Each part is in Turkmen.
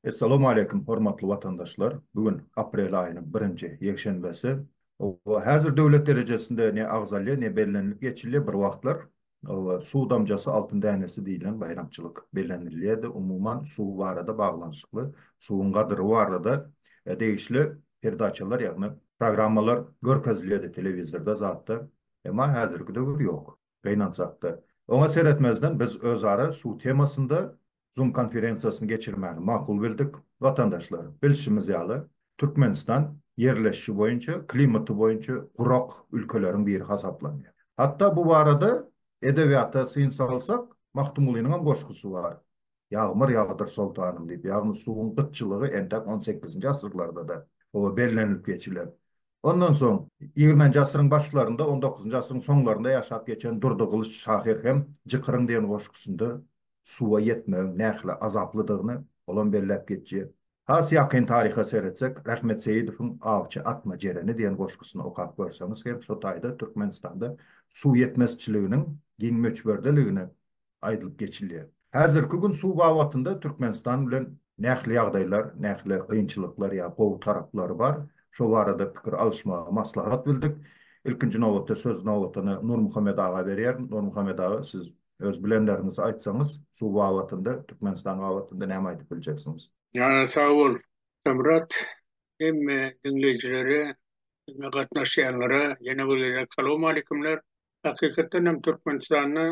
Essalawmaleýkim hormatly watandaşlar! Bu gün aprel aýynyň birinji ýekşenbesi. Oba, häzir döwlet derejesinde ne agzalýar, ne bellenilip geçilýär bir wagtlar. Suw damjasy altyn dänesi diýlen baýramçylyk bellenilýärdi. Umuman, suw barada baglanyşykly, suwuň gadyry barada degişli perdaçalar, ýagny programmalar görkezilýärdi telewizorda zatda. Emma häzirki döwür ýok. Gynansak-da, oňa seretmezden biz özara suw temasynda Zoom konferensiýasyny geçirmäni makul bildik. Watandaşlar, bilşimiz ýaly, Türkmenistan ýerleşişi boýunça, klimaty boýunça gurak ülkeleriň biri hasaplanýar. Hatda bu barada edebiýata syn salsak, Magtymgulynyň hem goşgusy bar, Ýagmyr ýagdyr soltanym diýip, ýagny suwuň gytçylygy entek on sekizinji asyrlarda-da oba bellenilip geçilen. Ondan soň, ýigrimenji asyryň başlarynda, on dokuzynjy asyryň soňlarynda ýaşap geçen Durdy Gylyç şahyr hem Jykyryň diýen goşgusynda suwa ýetmegiň nähili azaplydygyny olam belläp geçýär. Has ýakyn taryha seretsek, Rahmet Seýidowyň Awçy atma jereni diýen goşgusyny okap görseňiz hem şo taýda Türkmenistanda suw ýetmezçiliginiň giň möçberdeligini aýdylyp geçilýär. Häzirki gün suw babatynda Türkmenistan bilen nähili ýagdaýlar, nähili kynçylyklar ýa gowy taraplary bar, şo barada pikir alyşmagy maslahat bildik. Ilkinji nobatda söz nobatyny Nurmuhammet aga berýärin. Nurmuhammet aga, siz Öz bilenleriňizi aýtsaňyz suw babatynda Türkmenistan babatynda näme aýdyp biljeksiňiz. Jana sag bol Samyrat hemme diňleýjilere bizne gatnaşýanlara ýene bir gezek salowmaleýkimler. Hakykatdan hem Türkmenistanda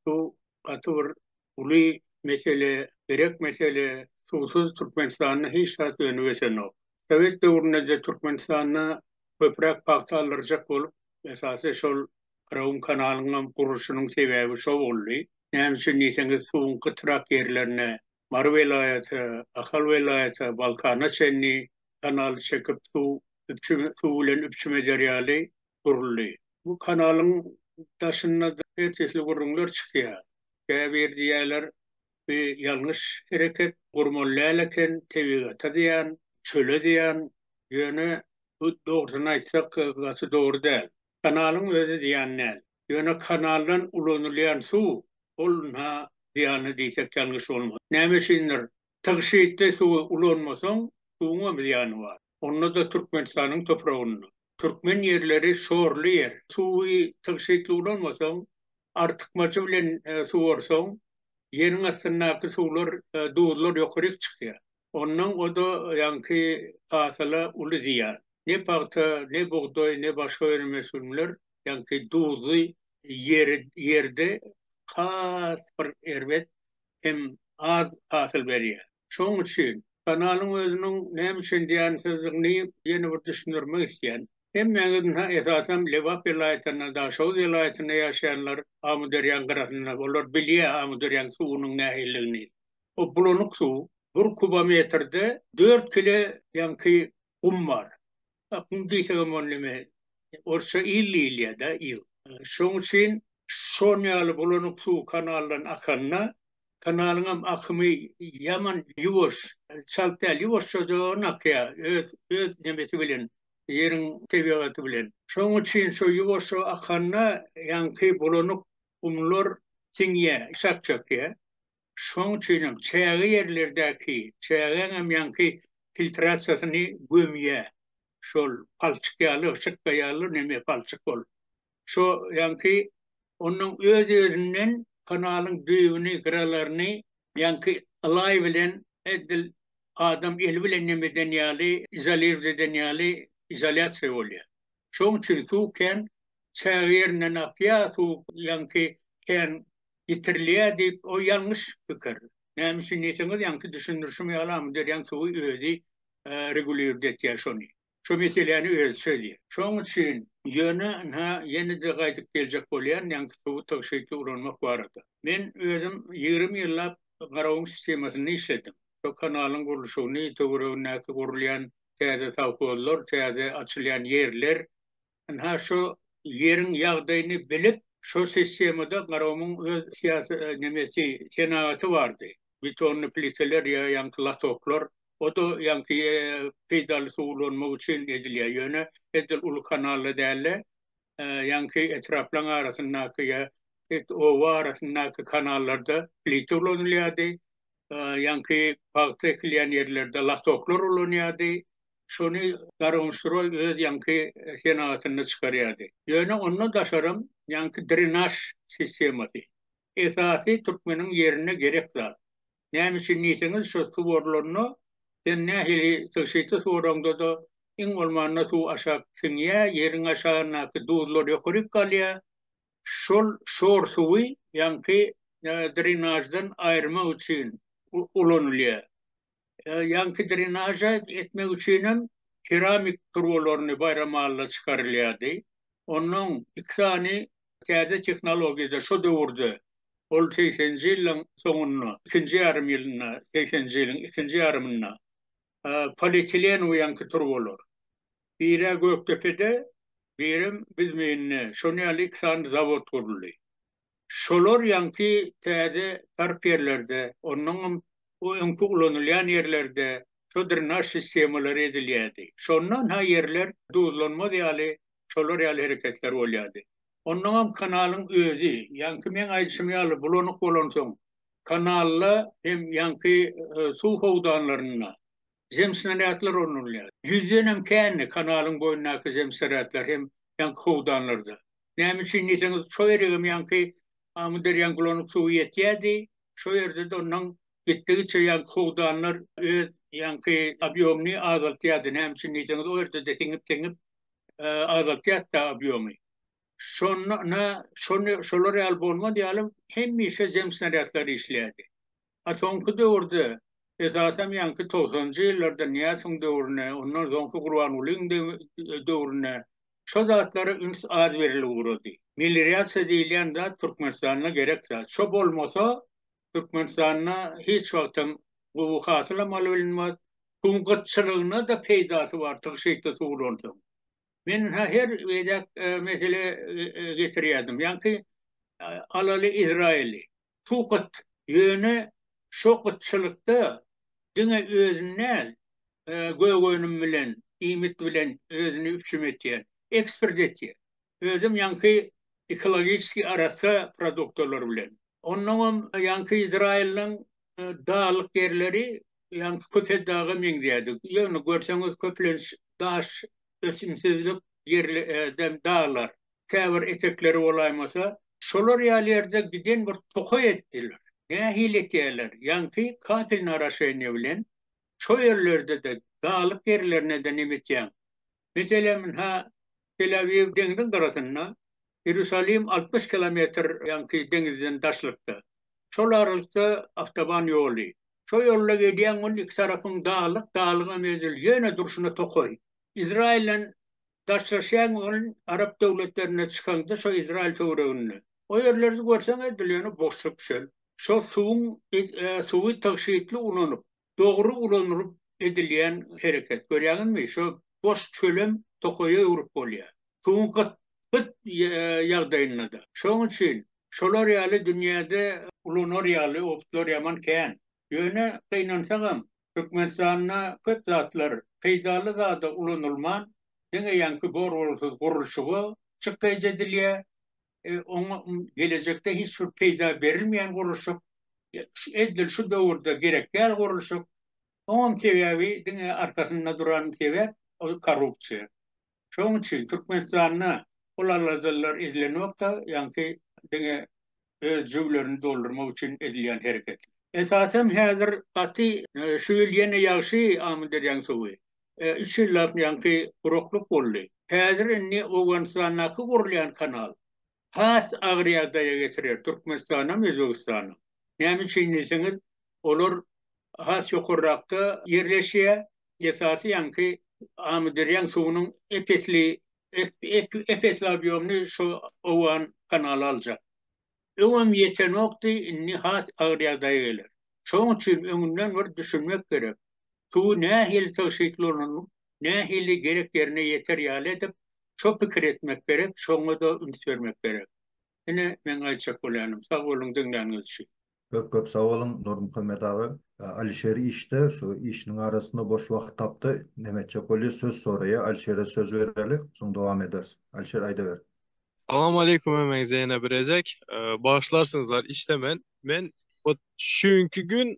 suw gaty bir uly mesele gerek mesele suwsuz Türkmenistanda hiç zat önüp ösenok. Sowet döwründeje Türkmenistanda köpräk pagta aldyrjak bolup esasy şol Gyrowun kanalynyň gurluşynyň sebäbi şo boldy. Näme üçin diýseňiz, suwuň gytrak ýerlerine, Mary welaýata, Ahal welaýata, Balkana çenli kanaly çekip, suw üpjün, suw bilen üpjüm eder ýaly guruldy. Bu kanalyň daşynda ertesli gürrüňler çykýar. Käbir diýýärler, bu ýalňyş hereket, gurmaly däl eken, tebigata zyýan, çöle zyýan. Ýöne bu dogrusyny aýtsak, gaty dogry däl. Kanalyň özi zyýan däl. Ýöne kanaldan ulanylýan suw, ol ynha zyýanly diýsek ýalňyş bolmaz. Näme üçindir, tygşytly suwy ulanmasaň, suwuňam zyýany bar. Onda-da Türkmenistanyň topragynda. Türkmen ýerleri şorly ýer. Suwy tygşytly ulanmasaň, artykmajy bilen suwarsaň, ýeriň astyndaky suwlar, duzlar ýokaryk çykýar. Ondan o-da ýaňky hasyla uly zyýan. Ne pagta, ne bugdaý, ne başga önüm-ösümler ýaňky duzly ýerde has bir erbet hem az hasyl berýär. Şonuň üçin kanalyň özüniň näme üçin zyýansyzdygyny ýene bir düşündirmek isleýän. Hemmäňiz ynha esasam Lebap welaýatynda, Daşoguz welaýatynda ýaşaýanlar Amyderýaň gyrasynda, olar bilýär Amyderýaň suwunyň nähilidigini. O bulanyk suw. Bir kubometrde dört kile ýaňky gum bar. A gum diýsegem ony neme, orsça il diýilýä-dä, il. Şoň üçin şon ýaly bulanyk suw kanaldan akanda, kanalyňam akymy ýaman ýuwaş, çalt däl, ýuwaşjajan akýa, öz, öz nemesi bilen, ýeriň tebigaty bilen. Şoň üçin şo ýuwaşja akanda ýaňky bulanyk gumlar siňýä, çak çekýä. Şoň üçinem çäge ýerlerdäki çägäňem ýaňky filtrasiýasyny gömýär. Şol palçyk ýaly, hrştka ýaly neme palçyk ol. Şo ýaňky onuň öz-özünden kanalyň düýbüni, gyralaryny ýaňky ylaý bilen edil adam eli bilen neme eden ýaly, izolirwt eden ýaly izolýasiýa bolýar. Şoň üçin suw kän çäge ýerinden akýar, suw ýaňky kän ýitirilýär diýip, o ýalňyş pikir. Näme üçin diýseňiz, ýaňky düşündirişim ýaly, amyderýanyň suwy özi reguliwird etýär şony. Şo meseläni özi çözýär. Şoň üçin, ýöne, ynha, ýene-de gaýdyp geljek bolýan ýaňky suwy tygşytly ulanmak barada. Men özüm ýigrimi ýyllap Garagum sistemasynda işledim. Şo kanalyň gurluşygyny, töweregindäki gurulýan täze sowhozlar, täze açylýan ýerler, Ynha şo ýeriň ýagdaýyny bilip, şo sistemada Garomyň öz syýasy nemesi senagaty bardy. Betonly pliteler ýa ýaňky latoklar. O-da ýaňky peýdaly suw ulanmak üçin edilýär. Ýöne edil uly kanalda däl-de, ýaňky etraplaň arasyndaky ýa et oba arasyndaky kanallarda plite ulanylýardy. Ýaňky pagta ekilýän ýerlerde latoklar ulanýardy. Şony Garoňstroý öz ýaňky senagatynda çykarýardy. Ýöne ondan daşaram ýaňky drenaž sistemasy. Esasy türkmeniň ýerine gerek zat. Näme üçin diýseňiz şo suw orlanda sen nähili tygşytly suwaraňda-da iň bolmanda suw aşak siňýä, ýeriň aşagyndaky duzlar ýokaryk galýa. Şol şor suwy ýaňky drenaždan aýyrmak üçin ulanylýa. Ýaňky drenaža etmek üçinem keramik turbalaryny Baýramalyda çykarylýardy. Onnoň iki sany täze tehnologiýada şo döwürde, ol segseninji ýyllaryň soňunda, ikinji ýarym ýylynda, segseninji ýylyň ikinji ýarymynda polietilenew ýaňky turbalar. Biri Gökdepede, birem Büzmeýinde şonuň ýaly iki sany zawod guruldy. Şolar ýaňky täze sarp ýerlerde, onnoňam bu öňki ulanylýan ýerlerde şo drenaž sistemalary edilýärdi. Şondan-ha ýerler duzlanmaz ýaly, şolar ýaly hereketler bolýardy. Onnoňam kanalyň özi, ýaňky meň aýdyşym ýaly, bulanyk bolansoň, kanalda hem ýaňky suw howdanlarynda, zemsnaradlar ornalýar. Ýüzdenem kändi kanalyň boýundaky zemsnaradlar hem ýaňky howdanlarda. Näme üçin diýseňiz, şo ýeregem ýaňky Amyderýanyň bulanyp suwy ýetýärdi, şo ýerde-de ondan gitdigiçe ýaňky howdanlar öz ýaňky obýomyny azaltýardy. Näme üçin diýseňiz, o ýerde-de siňip-siňip azaltýardy-da obýomy. Şonda şolar ýaly bolmaz ýaly hemişe zemsnaradlar işleýärdi. A soňky döwürde, esasam ýaňky togsanjy ýyllarda Nyýasowyň döwrüne, ondan soňky Gurbangulyň döwrüne şo zatlara üns az berilip ugrady. Melirýasiýa diýilýän zat Türkmenistanda gerek zat. Şo bolmasa, Türkmenistanda hiç wagtam gowy hasylam alybelnmaz. Suwuň gytçylygyna-da peýdasy bar, tygşytly suw bolansoň. Men ha her beýdäk mesele getirýärdim. Ýaňky alaly Izraýyly. Suw gyt. Ýöne şo gytçylykda diňe özüni däl, gök-önüm bilen, iýmit bilen özüni üpjüm etýän, eksport etýän. Özem ýaňky ekologiçeskiý arassa produktalar bilen. Onnoňam ýaňky Izraýylyň daglyk ýerleri ýaňky Köpetdaga meňzýärdi. Ýöne görseňiz köplenç daş, ösümsizlik ýerli, daglar. käbir etekleri bolaýmasa, şolar ýaly ýerde giden bir tokaý etdiler. Nähili etýärler? Ýaňky kapelny oraşeniýa bilen şo ýerlerde-de, daglyk ýerlerine-de neme etýäň? Meselem, ynha, Tel-Awiw deňziň gyrasynda, Iýerusalim altmyş kilometr ýaňky deňizden daşlykda. Şol aralykda awtoban ýoly. Şo ýolda gelýäň, ol iki tarapyň daglyk, daglygam edil, ýöne durşuna tokaý. Izraýyldan Daşlaşýaň ol arap döwletlerine çykaňda şo Izraýyl töwereginde. O ýerlerde görseň edil ýöne boşluk çöl. Şo suwuň suwy tygşytly ulanyp, dogry ulanylyp edilýän hereket. Görýäňizmi şo boş çölem tokaýa öwrüp bolýa. Suwuň gyt gyt ýagdaýyndada. Şoň üçin şolar ýaly dünýäde ulanar ýaly oplar ýaman kän. Ýöne gynansagam, Türkmenistanda köp zatlar peýdaly zada ulanylman, diňe ýaňky bor-bolsuz gurluşyga çykdajy edilýär. Oňa gelejekde hiç bir peýda berilmeýän gurluşyk, edil şu döwürde gerek däl gurluşyk. Oňam sebäbi, diňe arkasynda duran sebäp, ol korrupsiýa. Şonuň üçin Türkmenistanda ol aladalar edilenokda, ýaňky diňe öz jüblerini doldurmak üçin edilýän hereket. Esasam häzir gaty şu ýyl ýene ýagşy Amyderýaň suwy. Üç ýyllap ýaňky guraklyk boldy. Häzir indi Owganystandaky gurulýan kanal has agyr ýagdaýa getirer, Türkmenistanam, Özbegistanam. Näme üçin diýseňiz, olar has ýokarrakda ýerleşýär, esasy ýaňky Amyderýaň suwunyň ep-esli, ep-esli obýomyny şu owgan kanaly aljak. Öňem ýetenokdy, indi has agyr ýagdaýa geler. Şonuň üçin öňünden bir düşünmek gerek. Suwy nähili tygşytlanylyp nähili gerek ýerine ýeter ýaly edip, şo pikir etmek gerek, şoňa-da üns bermek gerek. Ine, meň aýtjak bolýanym. Sag boluň diňläniňiz üçin. Köp köp sag boluň Nurmuhammet aga. Alişer işde şu işiniň arasynda boş wagt tapdy. Näme etjek bolýa söz soraýa. Alişere söz bereli. Soň dowam ederis. Alişer aýdaber. Salam aleýkum hemeňize ýene bir ezek. Bagyşlarsyňyzlar işdemen. Men hut şu günki gün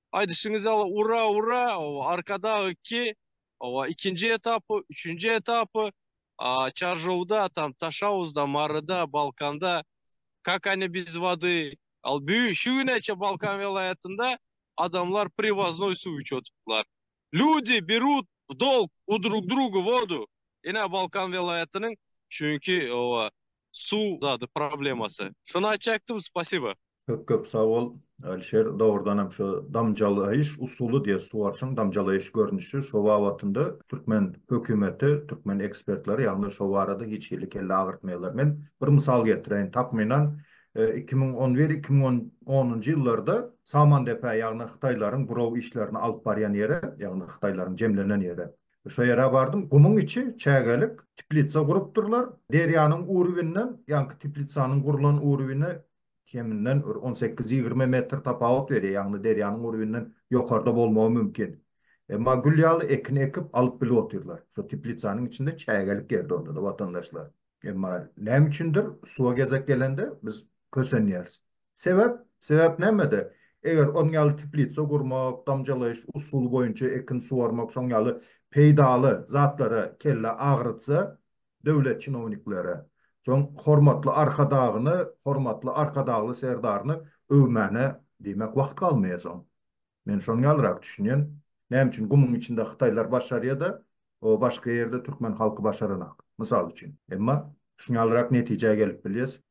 Aýdyşyňyz ýaly ura ura ow arkadag iki ow ikinji etapy üçünji etapy çarjowda tam taşawuzda maryda balkanda kak ani biz wady al bü şu güne çe balkan welaýatynda adamlar priwoznoý suw içip otyplar ludi berut w dolg u drug drugu wodu ine balkan welaýatynyň çünki ow suw zady problemasy şony aýtjakdym spasiba. Köp köp sag bol Alişer dogrudanam şu damjalaýyş usuly diýe suwaryşyň damjalaýyş görnüşi şo babatynda türkmen hökümeti türkmen ekspertleri ýagny şo barada hiç hili kelle agyrtmaýarlar men bir mysal getireýin takmynan iki müň on bir iki müň onunjy ýyllarda Samandepä ýagny hytaýlaryň buraw işlerini alyp barýan ýere ýagny hytaýlaryň jemlenen ýere Şo ýere bardym, gumuň içi çägelik, teplitsa gurupdyrlar. Derýanyň uruwinden, ýaňky teplitsanyň gurlan uruwine keminden bir on sekiz-ýigrimi metr tapawut berýär, ýagny derýanyň uruwinden ýokarda bolmagy mümkin. Emma gül ýaly ekin ekip, alyp bilip otyrlar. Şo teplitsanyň içinde çägelik ýerde onda-da watandaşlar. Emma näme üçindir suwa gezek gelende biz kösenýäris. Sebäp? Sebäp nämede? Eger onuň ýaly teplitsa gurmak, damjalaýyş usuly boýunça ekin suwarmak şoň ýaly peýdaly zatlara kelle agyrtsa döwlet çinownikleri, soň hormatly Arkadagyny, hormatly Arkadagly Serdaryny öwmäne diýmek wagt galmaýa soň. Men şony ýalyrak düşünýän. Näme üçin gumuň içinde hytaýlar başarýada, o başga ýerde türkmen halky başaranok, mysal üçin. Emma şuny ýalyrak netijä gelip bilýäs.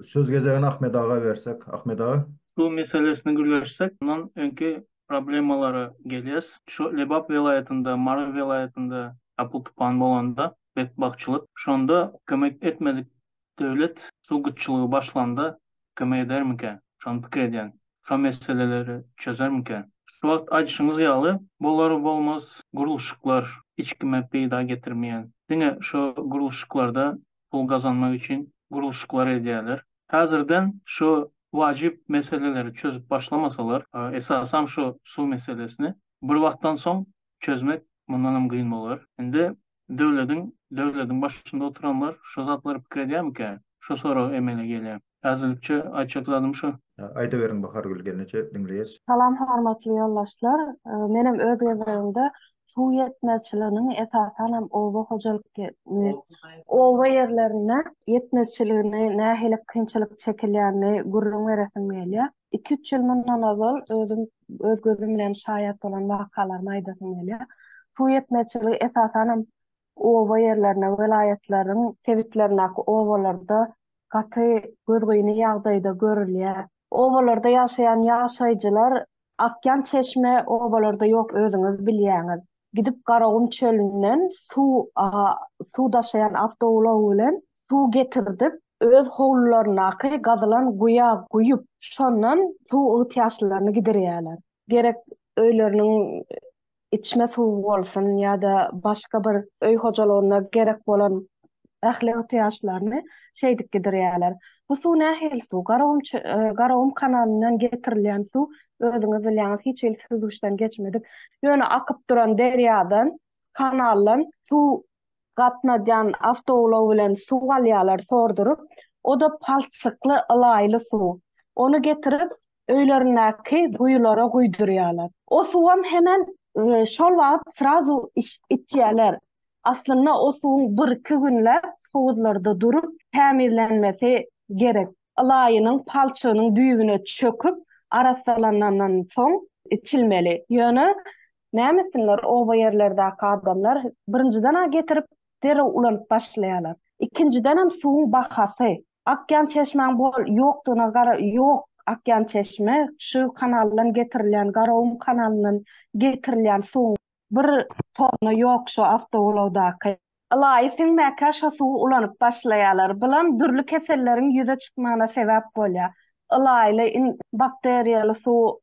Söz gezegini Ahmet aga bersek. Ahmet aga. Suw meselesini gürleşsek, mundan öňki problemalara gelýäs. Şu Lebap welaýatynda, Mary welaýatynda apyl-tupan bolanda, betbagtçylyk, şonda kömek etmedik Döwlet suw gytçylygy başlanda kömek edermika? Şony pikir edýän. Şo meseleleri çözermika? Şu wagt aýdyşyňyz ýaly bolar bolmaz gurluşyklar hiç kime peýda getirmeýän. Diňe şo gurluşyklarda pul gazanmak üçin gurluşyklar edýäler. Häzirden şo wajyp meseleleri çözüp başlamasalar, esasam şo suw meselesini bir wagtdan soň çözmek mundanam gyn bolar. Indi Döwlediň döwlediň başynda oturanlar şo zatlary pikir edýärmikä? Şo sorag emele gelýär. Äzirlikçe aýtjak zadym şo. Aýdaweriň Bahargül gelneje diňleýäs. Salam hormatly ýoldaşlar. Menem öz gezegimde suw ýetmezçiliginiň esasanam oba hojalyk oba ýerlerinde ýetmezçiligini nähili kynçylyk çekilýänini gürrüň beresim gelýär. Iki-üç ýyl mundan ozal özüm öz gözüm bilen şaýat bolan wakalarymy aýdasym gelýär. Suw ýetmezçiligi esasanam oba ýerlerine, welaýatlaryň sebitlerindäki obalarda gaty gözgyny ýagdaýda görülýär. Obalarda ýaşaýan ýaşaýjylar akýan çeşme obalarda ýok özüňiz bilýäňiz. gidip Garagum çölünden suw suw daşaýan awtoulag bilen suw getirdip, öz howlularyndaky gazylan guýa guýup, şondan suw ygtyýaçlylaryny giderýärler. Gerek öýleriniň içme suwy bolsun ýa-da başga bir öý hojalygyna gerek bolan ähli ygtyýaçlaryny şeýdip giderýärler. Bu suw nähili suw? Garagum Garagum kanalyndan getirilýän suw, özüňiz bilýäňiz, hiç hili süzgüçden geçmedik, ýöne akyp duran derýadan, kanaldan suw gatnadýan awtoulag bilen suw alýarlar sorduryp, o-da palçykly, ylaýly suw. Ony getirip, öýlerindäki guýulara guýdurýarlar. O suwam hemen şol wagt srazu içip bitýärler. Aslynda o suwuň birki günläp howuzlarda durup tämizlenmesi gerek. Ylaýynyň palçygynyň düýbüne çöküp arassalanandan soň içilmeli. Ýöne näme etsinler oba ýerlerdäki adamlar birinjiden-ä getirip derrew ulanyp başlaýarlar. Ikinjidenem suwuň bahasy. Akýan çeşmäň bol ýokdugyna gara ýok akýan çeşme şu kanaldan getirilýän Garagum kanalyndan getirilýän suwuň bir toruna ýok şu awtoulagdaky. Ylaýy siňmäkä şo suwy ulanyp başlaýalar bulam dürli keselleriň ýüze çykmagyna sebäp bolýa ylaýyly in bakteriýaly suw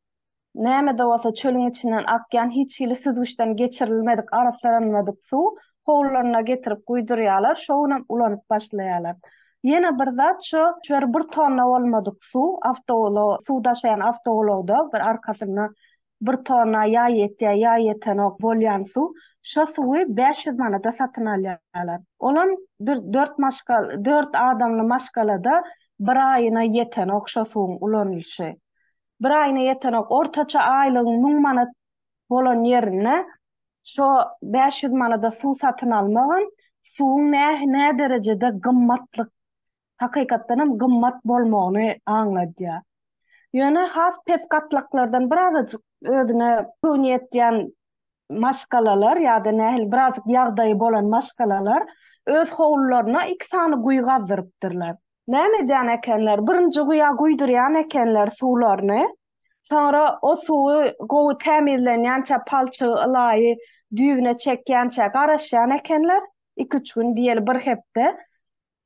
Näme-de bolsa çölüň içinden akýan hiç hili süzgüçden geçirilmedik, arassalanmadyk suw howlularyna getirip guýdurýarlar, şo günem ulanyp başlaýarlar. Ýene bir zat şo, şöyle bir tonna bolmadyk suw awtoulag, suw daşaýan awtoulagda bir arkasynda bir tonna ýa ýetýär, ýa ýetenok bolýan suw, şo suwy bäş ýüz manada satyn alýarlar. Olam bir dört maşgal, dört adamly maşgalada bir aýyna ýetenok şo suwuň ulanylyşy. bir aýyna ýetenok, ortaça aýlygyň müň manat bolan ýerinde şo bäş ýüz manada suw satyn almagam, suwuň näderejede gymmatlyk, hakykatdanam gymmat bolmagyny aňladýar. Ýöne has pes gatlaklardan birazajyk özüne göwni ýetýän maşgalalar ýa-da nähili birazajyk ýagdaýy bolan maşgalalar öz howlularyna iki sany guýy gazdyrypdyrlar. Näme edýän ekenler, birinji guýa guýdurýan ekenler suwlaryny, soňra o suwy gowy tämizlenýänçä, palçygy, ylaýy düýbüne çekýänçä garaşýan ekenler, iki-üç gün, diýeli bir hepde.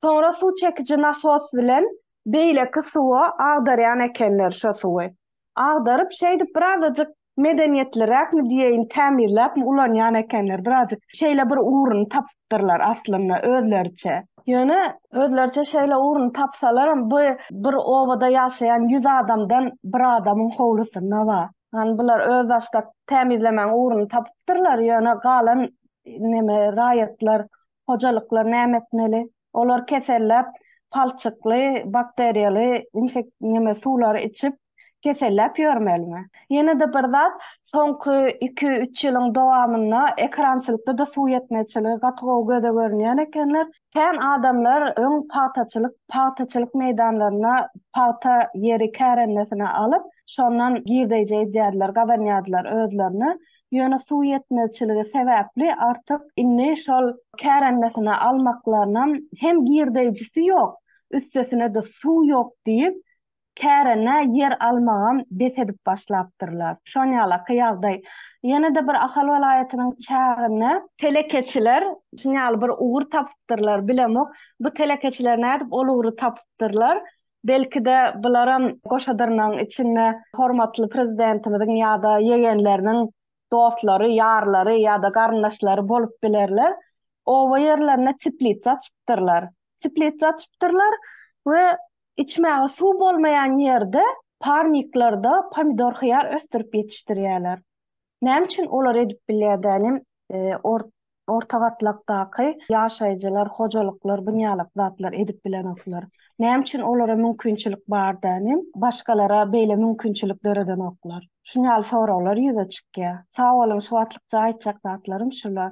Soňra suw çekiji nasos bilen beýleki suwa agdarýan ekenler şo suwy. Agdaryp, şeýdip birazajyk medeniýetliräkmi diýeýin, tämizläpmi ulanýan ekenler, birazjyk şeýle bir ugruny tapypdyrlar aslynda özleriçe. Ýöne özleriçe şeýle ugruny tapsalaram, bu bir obada ýaşaýan ýüz adamdan bir adamyň howlusynda bar. Ýagny bular özbaşdak tämizlemäň ugruny tapypdyrlar, ýöne galan neme raýatlar hojalyklar näme etmeli? Olar keselläp, palçykly, bakteriýaly infek neme suwlary içip, keselläp ýörmelimi? Ýene-de bir zat, soňky iki-üç ýylyň dowamynda ekerançylykda-da suw ýetmezçiligi gaty gowy göze görünýän ekenler. Kän adamlar öň pagtaçylyk, pagtaçylyk meýdanlaryna pagta ýeri kärendesine alyp, şondan girdeýje edýärdiler, gazanýardylar özlerine. Ýöne suw ýetmezçiligi sebäpli artyk indi şol kärendesyna almaklarynam hem girdeýjisi ýok, üstesine-de suw ýok diýip, kärendä ýer almagam bes edip başlapdyrlar. Şon ýalaky ýagdaý ýene-de bir Ahal welaýatynyň çäginde. Telekeçiler şun ýaly bir ugur tapypdyrlar, bilemok, bu telekeçiler nädip ol ugry tapypdyrlar, Belki-de, bularam goşa dyrnagyň içinde hormatly Prezidentimiziň ýa-da ýegenleriniň dostlary, ýarlary ýa-da garyndaşlary bolup bilerler. Oba ýerlerinde teplitsa açypdyrlar. Teplitsa açypdyrlar we içmäge suw bolmaýan ýerde parniklarda pomidor-hyýar ösdürip ýetişdirýärler. Näme üçin olar edip bilýär dälim, orta gatlakdaky ýaşaýjylar, hojalyklar, bu ýalak zatlar edip bilenoklar. Näme üçin olara mümkinçilik bar dälim, başgalara beýle mümkinçilik döredenoklar. Şunýaly soraglar ýüze çykýar. Sag boluň, şu wagtlykça aýtjak zatlarym şular.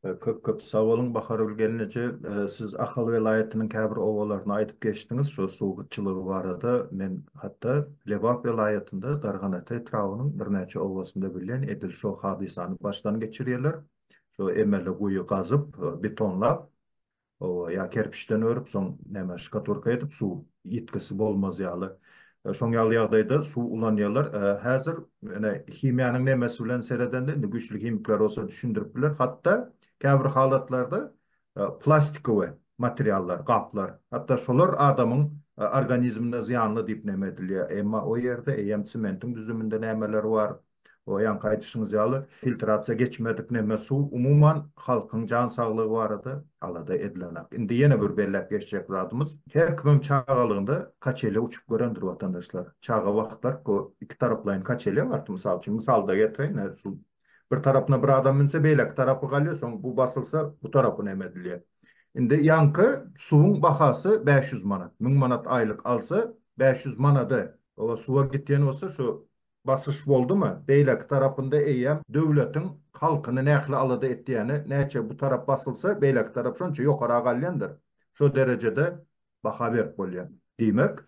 Köp köp sag boluň Bahargül gelneje. Siz Ahal welaýatynyň käbir obalaryny aýdyp geçdiňiz şo suw gytçylygy barada. Men hatda Lebap welaýatynda Darganata etrabynyň birnäçe obasynda bilýän edil şo hadysany başdan geçirýärler. Şo emeli guýy gazyp, betonlap Owa, ýa kerpiçden örüp, soň näme, şkaturka edip, suw ýitgisi bolmaz ýaly. Şoň ýaly ýagdaýda suw ulanýarlar. Häzir ine himiýanyň nemesi bilen seredende, indi güýçli himikler bolsa düşündirip biler, hatda käbir halatlarda plastikowe materiallar, gaplar, hatda şolar adamyň organizmine zyýanly diýip neme edilýär. Emma o ýerde eýýäm sementiň düzüminde nämeler bar, O ýaňky aýdyşyňyz ýaly filtrasiýa geçmedik neme suw umuman halkyň jan saglygy barada alada edilenak. Indi ýene bir belläp geçjek zadymyz her kimem çagalygynda kaçelýa uçup görendir watandaşlar. Çaga wagtlar bu iki taraplaýyn kaçelýa bardy mysal üçin mysalda getireýin hä şu bir tarapyna bir adam münse beýleki tarapy galýa soň bu basylsa bu tarapy neme edilýä. Indi ýaňky suwuň bahasy bäş ýüz manat müň manat aýlyk alsa bäş ýüz manada oba suwa gitýän bolsa şu Basyş boldumy, beýleki tarapynda eýýäm döwletiň halkyny nähli alada etýäni, näçe bu tarap basylsa, beýleki tarap şonça ýokara galýandyr. Şo derejede baha berip bolýar. Diýmek,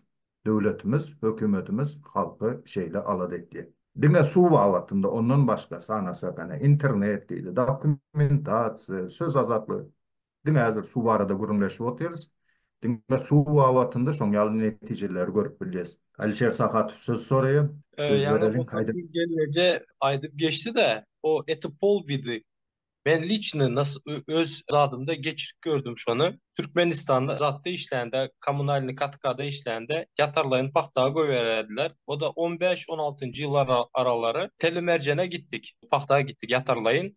döwletimiz, hökümetimiz halky şeýle alada etýär. Diňe suw babatynda, ondan başga sanasak, ene, internet diýdi, dokumentasiýa, söz azatlygy. Diňe häzir suw barada gürrüňleşip otyrys. Diňe suw babatynda şoň ýaly netijeleri görüp bilýäs. Alişer Sahatow söz soraýar. Söz bereliň, haýda. Gelneje aýdyp geçdi-de, o eto polbidi. Men liçny nas öz zadymda geçirip gördüm şony. Türkmenistanda zatda işlände, kommunalnyý katkada işlände ýatarlaýyn pagta goýbererdiler. O-da on bäş-on altynjy ýyllar aralary Tele-Merjene gitdik. Pagta gitdik ýatarlaýyn.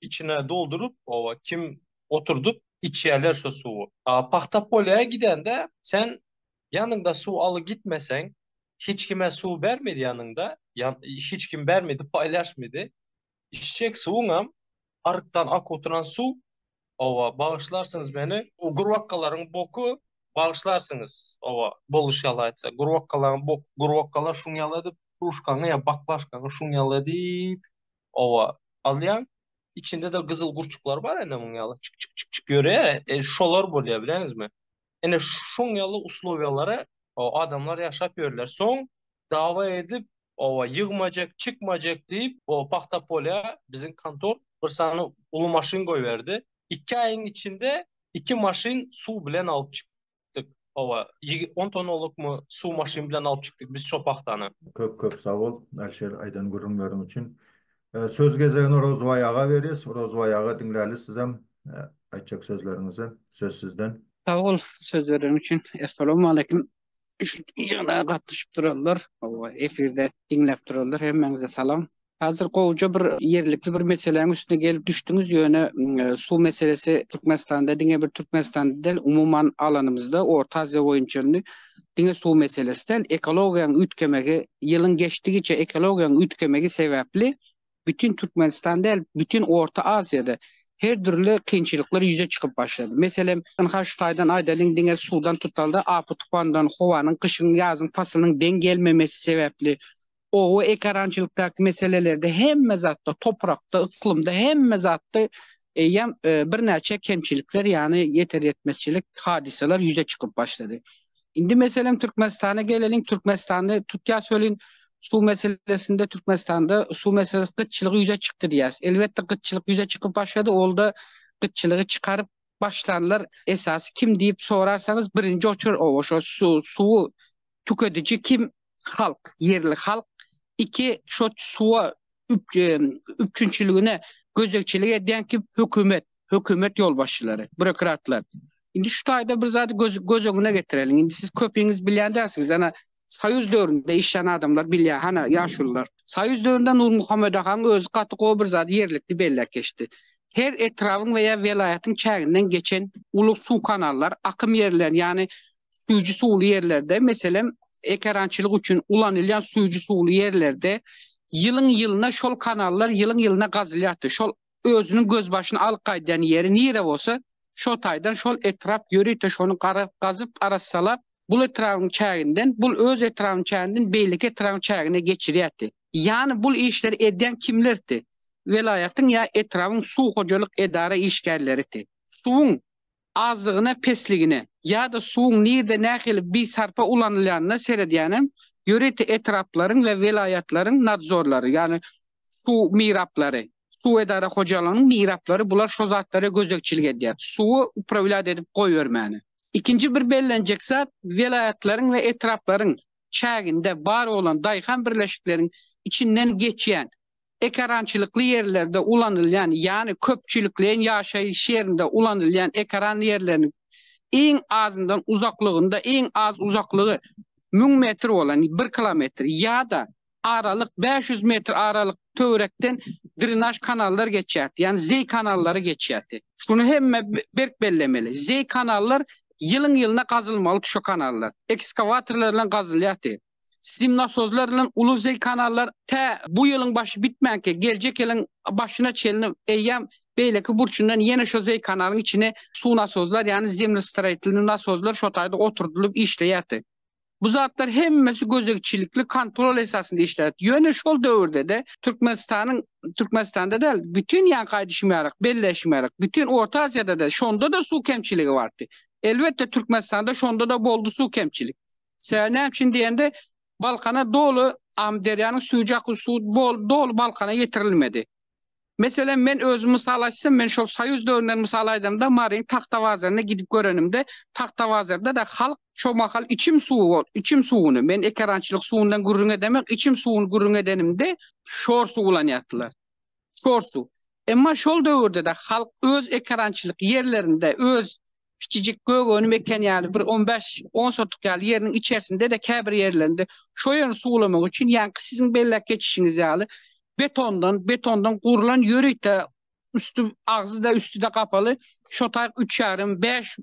içine dolduryp oba kim oturdyp içýärler şo suwy. Pagta polýa gidende sen ýanyňda suw aly gitmeseň hiç kime suw bermedi ýanyňda hiç kim bermedi paýlaşmady içjek suwuňam arykdan ak oturan suw oba bagyşlarsyňyz meni o gurbakalaryň boky bagyşlarsyňyz oba boluş ýaly aýtsa gurbakalaň bok gurbakalar şuň ýaly edip kruşkaňy ýa baklaşkaňy şuň ýaly edip owa alýan. Içinde-de gyzyl gurçuklar bar ene muň ýaly çyk çyk çyk çyk ýörýär. E, şolar bolýar bileňizmi? Ene şoň ýaly uslowiýalara adamlar ýaşap ýörler. Soň dawa edip, owa ýygmajak, çykmajak diýip, o pahta polýa biziň kontor bir sany uly maşyn goýberdi. Iki aýyň içinde iki maşyn suw bilen alyp çyk. çykdyk. Owa, ýigit 10 tonnalykmy suw maşyn bilen alyp çykdyk biz şo pagtany. Köp köp sag bol Alişer aýdan gürrüňleriň üçin. Söz gezegini Orozbaý aga berýäs. Orozbaý aga diňläli sizem aýtjak sözleriňizi. Söz sizden. Sag bol söz bereniň üçin. Essalawmaleýkim. Şu ýygnaga gatnaşyp duranlar, owa efirde diňläp duranlar hemmäňize salam. Hazir gowja bir ýerlikli bir meseläň üstüne gelip düşdüňiz ýöne suw meselesi Türkmenistanda diňe bir Türkmenistanda däl umuman alanymyzda Orta Aziýa boýunça indi diňe suw meselesi däl ekologiýaň üýtgemegi ýylyň geçdigiçe ekologiýaň üýtgemegi sebäpli bütin Türkmenistan däl bütin Orta Aziýada her dürli kynçylyklar ýüze çykyp başlady. Meselem, ynha şu taýdan aýdalyň diňe suwdan tutaldy, apy-tupandan, howanyň gyşyň, ýazyň paslynyň deň gelmemesi sebäpli oba ekerançylykdaky meselelerde hemme zatda toprakda, yklymda hemme zatda eýýäm birnäçe kemçilikler ýagny ýeter ýetmezçilik hadysalar ýüze çykyp başlady. Indi meselem Türkmenistana geleliň Türkmenistany tutýas welin suw meselesinde Türkmenistanda suw meselesi gytçylygy ýüze çykdy diýýäs. Elbetde gytçylyk ýüze çykyp başlady olda gytçylygy çykaryp başlanlar esasy kim diýip sorarsaňyz birinji oçur oba şo suwy tükediji kim? Halk, ýerli halk. Iki, şo suwa üpjünçiligine gözegçilik edýän kim? Hökümet, hökümet ýolbaşçylary, burokratlar. Indi şu taýda bir zady göz öňüne getireliň. Indi siz köpiňiz bilýän dälsiňiz, ana Soýuz döwründe işlän adamlar bilýär, hana ýaşulylar. Soýuz döwründe Nurmuhammet agaň özi gaty gowy bir zady ýerlikli belläp geçdi. Her etrabyň we ýa welaýatyň çäginden geçen uly suw kanallar, akym ýerlerini, ýagny süýji suwly ýerlerde, meselem, ekerançylyk üçin ulanylýan süýji suwly ýerlerde ýylyň-ýylyna şol kanallar ýylyň-ýylyna gazylýardy. Şol özüniň gözbaşyny alyp gaýdýan ýeri nire bolsa, şo taýdan şol etrap ýörite şony garaz gazyp, arassalap, bul etrabyň çäginden, bul öz etrabyň çäginden beýleki etrabyň çägine geçirýärdi. Ýany bul işleri edýän kimlerdi? Welaýatyň ýa etrabyň suw hojalyk edara işgärleridi. Suwuň Azlygyna, pesligine ýa-da suwuň nirde nähili bisarpa ulanylýanyna seredýänem ýörite etraplaryň we welaýatlaryň nadzorlary, ýagny suw miraplary, suw edara hojalygynyň miraplary bular şo zatlara gözegçilik edýär. Suwy uprawlýat edip goýbermäne. Ikinji bir bellenjek zat, welaýatlaryň we etraplaryň çäginde bar bolan daýhan birleşikleriň içinden geçýän Ekerançylykly ýerlerde ulanylýan, ýagny köpçülikleýin ýaşaýyş ýerinde ulanylýan ekeran ýerleriniň iň azyndan uzaklygynda, iň az uzaklygy müň metr bolan, bir kilometr, ýa-da aralyk bäş ýüz metr aralyk töwerekden drenaž kanallar geçýärdi, ýagny zeý kanallary geçýärdi. Şuny hemme berk bellemeli, zeý kanallar ýylyň-ýylyna gazylmalydy, şu kanallar ekskawatorlar bilen gazylýardy. Sim nasozlar bilen uly zeý kanallar tä bu ýylyň başy bitmänkä, geljek ýylyň başyna çenli eýýäm beýleki burçundan ýene şo zeý kanalyň içine suw nasozlar, ýagny zemlestiraýtelny nasozlar şo taýda oturdylyp işleýärdi. Bu zatlar hemmesi gözegçilikli kontrol esasynda işlärdi. Ýöne şol döwürde-de Türkmenistanyň, Türkmenistanda däl, bütin ýaňky aýdyşym ýaly, belleýşim ýaly, bütin Orta Aziýada-da şonda-da suw kemçiligi bardy. Elbetde, Türkmenistanda şonda-da boldy suw kemçilik. Sebäbi näme üçin diýende, Balkana doly Amyderýanyň süýji akyl suwy bol doly Balkana ýetirilmedi. Meselem, men özümi mysal açsam, men şol soýuz döwründen mysal aýdamda, Maryň Tagtabazaryna gidip görenimde, Tagtabazarda-da halk şo mahal içim suwy bol, içim suwuny, men ekerançylyk suwundan gürrüň edemek, içim suwuny gürrüň edenimde, şor suw ulanýardylar. Çorsu. Emma şol döwürde-de halk öz ekerançylyk ýerlerinde, öz kiçijik gök-önüm eken ýaly bir on bäş, on sotuk ýaly ýeriniň içersinde-de käbir ýerlerinde şo ýerini suwlamak üçin ýaňky siziň belläp geçişiňiz ýaly betondan, betondan gurlan ýörite üsti, agzy-da, üsti-de gapaly şo taýyk üç ýarym, bäş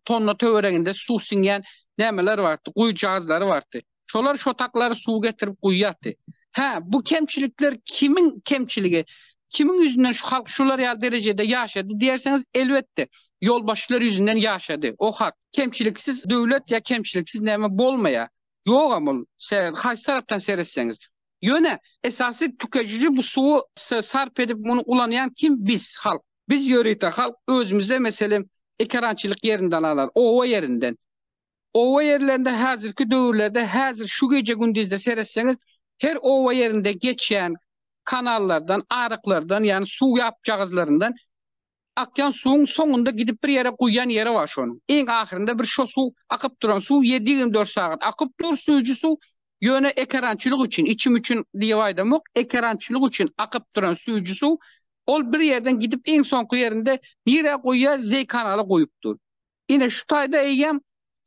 tonna töwereginde suw siňýän nämeler bardy, guýujazlary bardy. Şolar şotaklary suw getirip guýýardy. Hä, bu kemçilikler kimiň kemçiligi? Kimiň ýüzünden şu halk şular ýaly derejede ýaşady diýersiňiz? Elbetde, ýolbaşçylar ýüzünden ýaşady. O hak. Kemçiliksiz döwlet ýa kemçiliksiz näme bolmaýar. Ýogam ol, siz haýsy tarapdan seretseňiz. Ýöne, esasy tükejiji bu suwy sarp edip, muny ulanýan kim? Biz, halk. Biz ýörite halk özümizde, meselem, ekerançylyk ýerinden alar, oba ýerinden. Oba ýerlerinde häzirki döwürlerde häzir şu gije-gündizde seretseňiz, her oba ýerinde geçýän kanallardan, aryklardan, ýagny suw ýapjagazlaryndan akýan suwuň soňunda gidip bir ýere guýýan ýeri bar şonuň. Iň ahyrynda bir şo suw, akyp duran suw ýedi ýigrimi dört sagat akyp dur, süýji suw. Ýöne ekerançylyk üçin, içim üçin diýip aýdamok, ekerançylyk üçin akyp duran süýji suw, ol bir ýerden gidip iň soňky ýerinde nirä guýýar, zeý kanala guýup dur. Ine şu taýda eýýäm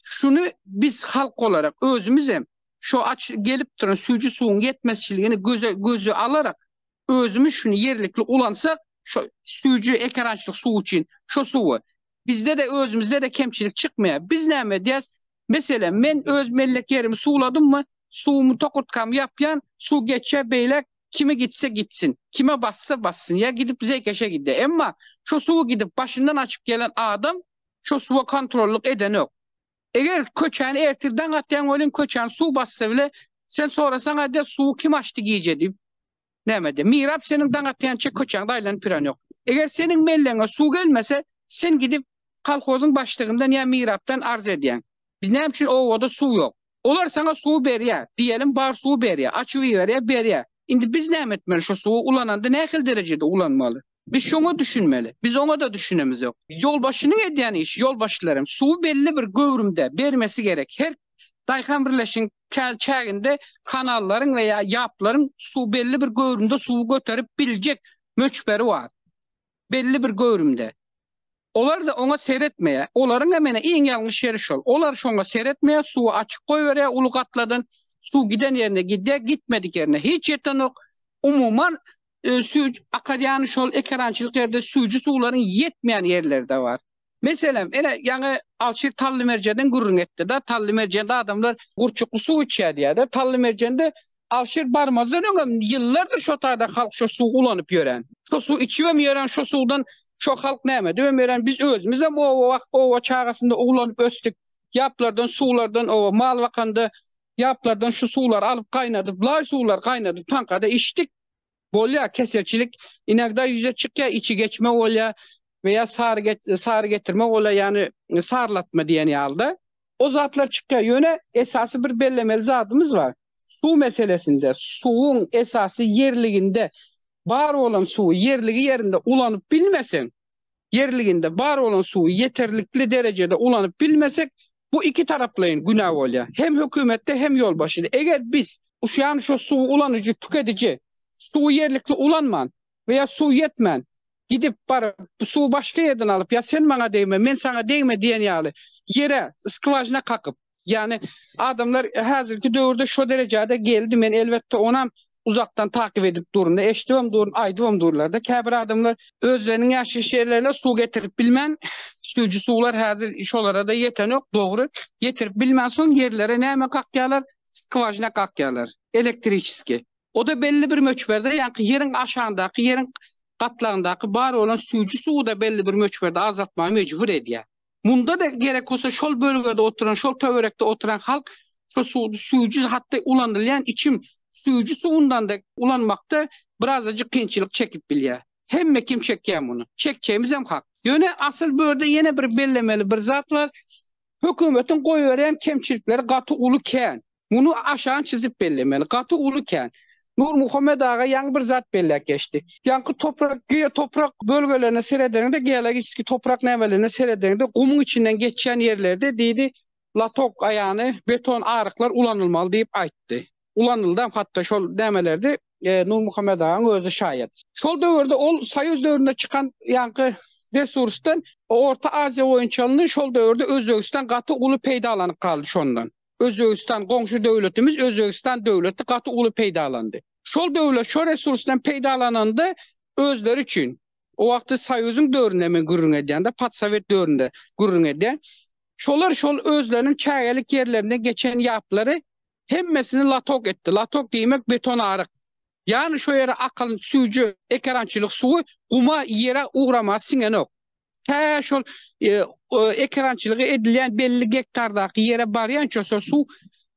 şuny biz halk olarak özümizem şu aç gelip duran süýji suwuň ýetmezçiligini göze göze alarak özümiz şuny ýerlikli ulansak şu süýji ekerançylyk suwy üçin şu suwy bizde-de özümizde-de kemçilik çykmaýar. Biz näme edýäs? Meselem, men öz mellek ýerimi suwladymmy, suwumy tokurtkamy ýapýan, suw geçýär beýläk Kime gitse gitsin, kime bassa bassyn, ýa gidip zeýkeşe gide. Emma şo suwy gidip başyndan açyp gelen adam şo suwa kontrollyk edenok. Eger köçäni ertir daň atýan welin köçäni suw bassa bile, sen sorasaň aýdýar suwy kim açdy gije diýip. Näme de, mirap seniň daň atýança köçäňde aýlanyp ýörenok. Eger seniň melleňe suw gelmese, sen gidip kolhozyň başlygyndan ýa mirapdan arz edýäň. Biz näme üçin obada suw ýok? Olar saňa suwy berýär, diýelim bar suwy berýär, açyp iberýär, berýär. Indi biz näme etmeli şu suwy ulananda nähili derejede ulanmaly? Biz şoňa düşünmeli. Biz oňa-da düşünemizok. Ýolbaşçynyň edýän işi, ýolbaşçylar hem suwy belli bir göwrümde bermesi gerek. Her daýhan birleşigiň käl çäginde kanallaryň we ýa ýaplaryň suw belli bir göwrümde suwy göterip biljek möçberi bar. belli bir göwrümde. Olar-da oňa seretmeýär. Olaryň hem ene iň ýalňyş ýeri şol. Olar şoňa seretmeýär, suwy açyk goýberýär uly gatladan. Suw giden ýerine gidýär, gitmedik ýerine hiç ýetenok. Umuman, sü akadýany şol ekerançylyk ýerde süýji suwlaryň ýetmeýän ýerleri-de bar. Meselem, ine, ýaňy Alşir Tallymerjenden gürrüň etdi-de, Tallymerjende adamlar gurçukly suw içýär diýýär-de. Tallymerjende Alşir barmazdan öň hem ýyllardyr şo taýda halk şo suwy ulanyp ýören. Şo suwy içip hem ýören, şo suwdan şo halk näme edip hem ýören. Biz özümiz hem oba wagt, oba çagasynda ulanyp ösdük. Ýaplardan, suwlardan, oba mal bakanda ýaplardan şu suwlary alyp gaýnadyp, laý suwlary gaýnadyp, taňkada içdik. Bolýar keselçilik inagda ýüze çykýar içi geçme bolýa we ýa sary sary getirme bolýa ýany sarylatma diýen ýalyda. O zatlar çykýar ýöne esasy bir bellemeli zadymyz bar. Suw meselesinde suwuň esasy ýerliginde bar bolan suwy ýerligi ýerinde ulanyp bilmeseň ýerliginde bar bolan suwy ýeterlikli derejede ulanyp bilmesek, bu iki taraplaýyn günä bolýar. Hem hökümetde, hem ýolbaşçyda. Eger biz ýany şo suwy ulanyjy, tükediji suwy ýerlikli ulanman we ýa suw ýetmän gidip baryp bu suwy başga ýerden alyp ýa sen maňa degme, men saňa degme diýen ýaly ýere skwažina kakyp, Ýagny adamlar häzirki döwürde şo derejede geldi men elbetde onam uzakdan takyp edip durun eşdibem durun aýdybam durlarda käbir adamlar özleriniň ýaşaýyş ýerlerine suw getirip bilmän süýji suwlar häzir şolarada ýetenok dogry ýetirip bilmän soň ýerlere näme kakýarlar skwažina kakýarlar elektriçeski oda belli bir möçberde ýaňky ýeriň aşandaky ýeriň gatlagyndaky bar bolan süýji suwy da belli bir möçberde azaltmaga mejbur edýär Munda-da gerek bolsa şol bölgede oturan, şol töwerekde oturan halk şu suwy süýji hatda ulanylýan içim süýji suwundan-da ulanmakda birazajyk kynçylyk çekip bilýär. Hemme kim çekýär muny. Çekjegimizem hak. Ýöne asyl bu ýerde ýene bir bellemeli bir zat bar. Hökümetiň goýberýän kemçilikleri gaty uly kän. Muny aşan çizip bellemeli. Gaty uly kän. Nurmuhammet aga ýaňy bir zat belläp geçdi. Ýaňky toprak, geotoprak bölgelerine seredeniňde, geologiçeskiý toprak nämelerine seredeniňde gumuň içinden geçýän ýerlerde diýdi, latok, aýany, beton aryklar ulanylmaly diýip aýtdy. Ulanyldam hatda şol nämelerde, Nurmuhammet agaň özi şaýat. Şol döwürde ol soýuz döwründe çykan ýaňky resursdan Orta Aziýa boýunça alyndy, şol döwürde Özbegistan gaty uly peýdalanyp galdy şondan. Özbegistan goňşy döwletimiz Özbegistan döwleti gaty uly peýdalandy. Şol döwlet şo resursdan peýdalananda özleri üçin o wagtky soýuzyň döwründe men gürrüň edýän-de podsowet döwründe gürrüň edýän. Şolar şol özleriniň çägelik ýerlerinden geçen ýaplary hemmesini latok etdi. Latok diýmek beton aryk. Ýany şo ýere akan süýji ekerançylyk suwy guma ýere ugrama siňenok. Tä şol ekerançylygy edilýän belli gektardaky ýere barýança şo suw